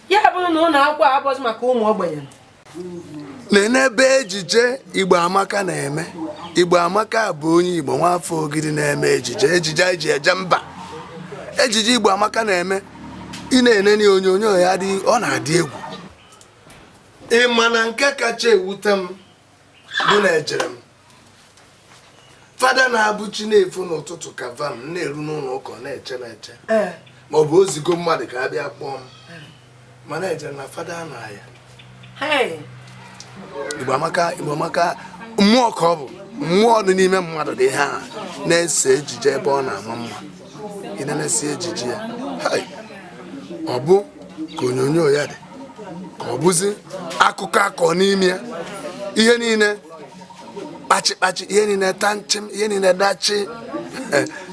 ya bụrụ na ụlọ akwụkwọ abụghị maka ụmụ ogbenye nene ebe ejije igbo amaka na-eme igbo amaka bụ onye igbo nwafọ ogidi na-eme ejije ejije e ji eje mba ejije igbo amaka na-eme ị na-enene onyonyo ya ọ na-adị egwu ị ma na nke kacha ewute m bụ na ejere m fada na-abụ chi na-efo n'ụtụtụ ka vam na-eru n'ụlọ ụka na-eche na-eche eh. ma ọ bụ o zigo mmadụ ka a bịa kpọọ m eh. ma na-eje na fada na ya Igbo amaka Igbo amaka mmụọ ka ọ bụ mmụọ dị n'ime mmadụ dị ha na-ese ejije ebe ọ na-ama mma ị nenesị ejije ya ọ bụ ka onyonyo ya dị ka ọ bụzi akụkọ a kọ n'ime ya ihe niile kpachikpachi ihe niile ta nchim ihe niile dachi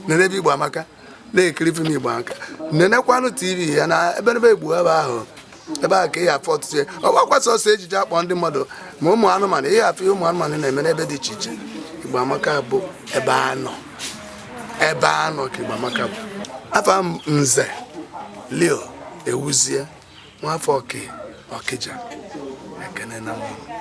nene ebe igbo amaka na-ekiri fim igbo amaka nenekwanụ tv ya na ebe ebe igbo ebe ahụ ebe a ka ị ya-afụ ọtụtụ ihe ọ bụrọkwa sọsọ ejije a kpọ ndị mmadụ ma ụmụ anụmanụ ị ya-afụ ihe ụmụ anụmanụ na-eme n'ebe dị iche iche Igbo Amaka bụ ebe a nọ ebe a nọ ka Igbo Amaka bụ afa nze leo ewuzie nwafọ ọkị ọkịja ekene na mmụọ